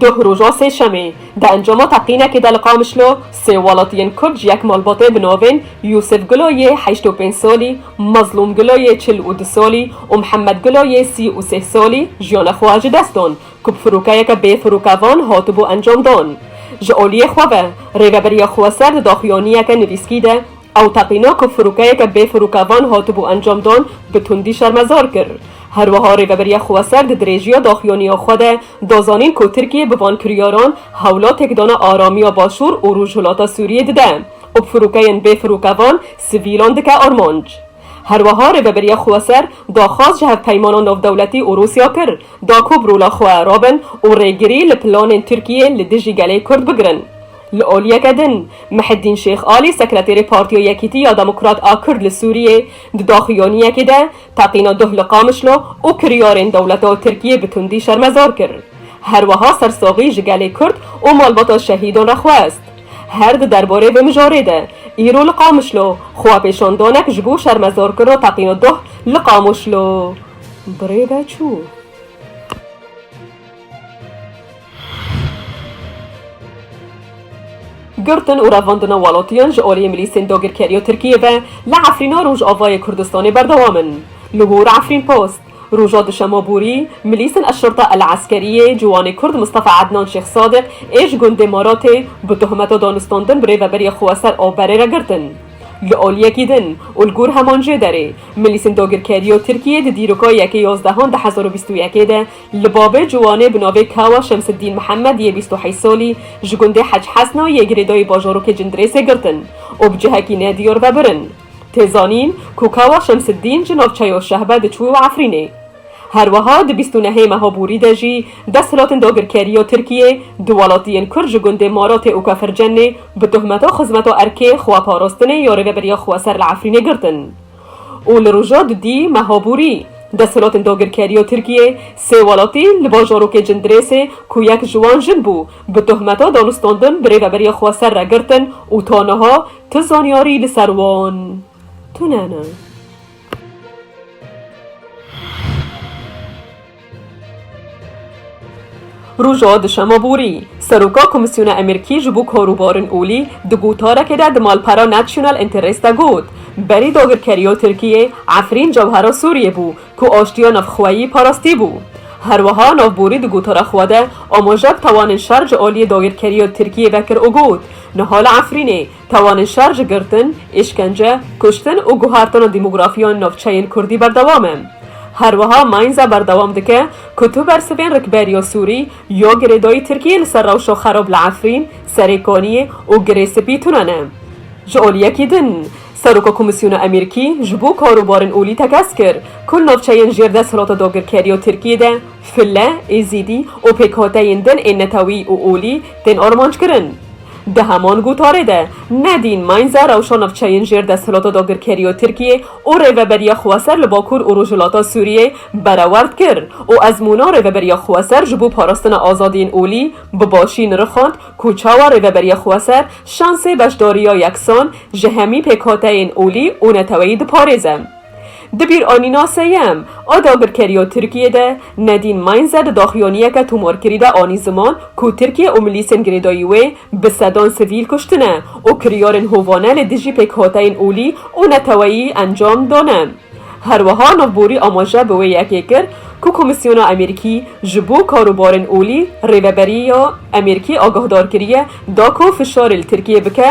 Duh roja sêşemê di encama teqînekê de li Qamişlo sê welatiyên Kurd ji yek malbatê bi navên Yûsif Gulo yê heşt û pênc salî, Mazlûm Gulo yê çil û du salî û Mihemed Gulo yê sî û sêh salî jiyana xwe ji dest dan ku bi firokeyeke bê firokevan hatibû encamdan. Ji aliyê xwe ve Rêveberiya Xweser di daxuyaniyeke nivîskî de Ew teqîna ku firokeyeke bê firokevan hatibû encamdan, bi tundî şermezar kir. Her wiha Rêveberiya Xweser di dirêjiya daxuyaniya xwe de da zanîn ku Tirkiye bi van kiryaran hewla têkdana aramiya Başûr û Rojhilata Sûriyê dide û bi firokeyên bê firokevan sivîlan dike armanc. Her wiha Rêveberiya Xweser daxwaz ji hevpeymana navdewletî û Rûsya kir da ku bi rola xwe rabin û rêgirî li planên Tirkiyê li dijî gelê Kurd bigirin. Li aliyeke din, Mihedîn Şêx Alî sekreterê Partiya Yekîtî ya Demokrat a Kurd li Sûriyê di daxuyaniyekê de teqîna duh li Qamişlo û kiryarên dewleta Tirkiyê bi tundî şermezar kir. Her wiha sersaxî ji gelê Kurd û malbata şehîdan re xwest. Her di derbarê vê mijarê de, îro li Qamişlo xwepêşandanek ji bo şermezarkirina teqîna duh li Qamoşlo birêve çû. Girtin û revandina welatîyan ji aliyê milîsên dagirkerî ya Tirkîyê ve li Efrîna Rojavayê Kurdistanê berdewam in. Li gor Efrînpost, roja duşema borî milîsên Eşşurta El-Eskerî yê ciwanê Kurd Mistefa Ednan Şêx Sadiq ê ji gundê Maratê bi tohmeta danûstandin bi rêveberiya xwe ser Aberê re girtin. Li aliyekî din û li gor heman jê derê, milîsên dagirkerî ya Tirkîyê di dîroka yekê yazdehan du hezar û bîst û yekê de, Li bavê ciwanê bi navê Kawa Şemsiddîn Mihemed yê bîst û heyş salî ji gundê Hec Hesna yê girêdayî bajarokê Cindirêsê girtin û bi cihekî nedîyar ve birin. Tê zanîn ku Kawa Şemsiddîn ji navçeya Şehbe diçû û Efrînê. Her wiha di bîst û nehê meha Bûrî de jî desthilatin dagirkeriya Tirkiyê du welatiyên Kurd ji gundê Maratê û Kefircennê bi tohmeta xizmeta erkê, xweparastinê ya rêveberiya xweser li Efrînê girtin. û li roja di dî meha borî desthilatên dagirkerî ya Tirkiyê sê welatî li bajarokê Cindirêsê ku yek ji wan jin bû bi tohmeta danûstandin bi rêveberiya xwe ser re girtin û ta niha tu zanyarî li ser wan tune ne. Roja duşema borî, Seroka Komîsyona Amerîkî ji bo Karûbarên Olî di gotarekê de di malpera National Interest de got, Berî dagirkeriya Tirkiyê Efrîn cewhera Sûriyê bû ku aştiya navxweyî parastîbû. Herwiha navborî di gotara xwe de amaje bi tawanên şer ji aliyê dagirkeriya Tirkiyê vekir û got, Niha li Efrînê, Tawanên şer ji girtin, îşkence, kuştin û guhertina dîmografîya navçeyên kurdî berdewam e. Her wiha Mainz berdewam dike ku tu bersivên rikberiya sûrî ya girêdayî Tirkiyê li ser rewşa xerab li Efrîn, Serê Kaniyê û Girê Spî tune ne. Ji aliyekî din, Seroka Komîsyona Emerîkî ji bo Karobarên Olî tekez kir ku li navçeyên jêr desthilata dagirkeriya Tirkiyê de file, êzîdî û pêkhateyên din ên netewî û olî tên armanc kirin. Di heman gotarê de Nadine Mainzer rewşa navçeyên jêr desthilata dagirkerî ya Tirkiyê û rêveberiya xweser li Bakur û Rojhilata Sûriyeyê berewerd kir û ezmûna rêveberiya xweser ji bo parastina azadiyên olî bi başî nirixand ku çawa rêveberiya xweser şansê beşdariya yeksan ji hemî pêkhateyên olî û neteweyî diparêze. Di bîranîna seyem a dagirkerî ya Tirkiyê de Nedîn Mainze di daxuyaniyeke tomarkirî de anî ziman ku Tirkiye û milîsên girêdayî wê bi sedan sivîl kuştine û kiryarên hovane li dijî pêkhateyên olî û neteweyî encam dane. Herweha navborî amaje bi wê yekê kir ku Komîsyona Amerîkî ji bo Karobarên Olî rêveberî ya Amerîkî agahdar kiriye da ku fişarê li Tirkiyê bike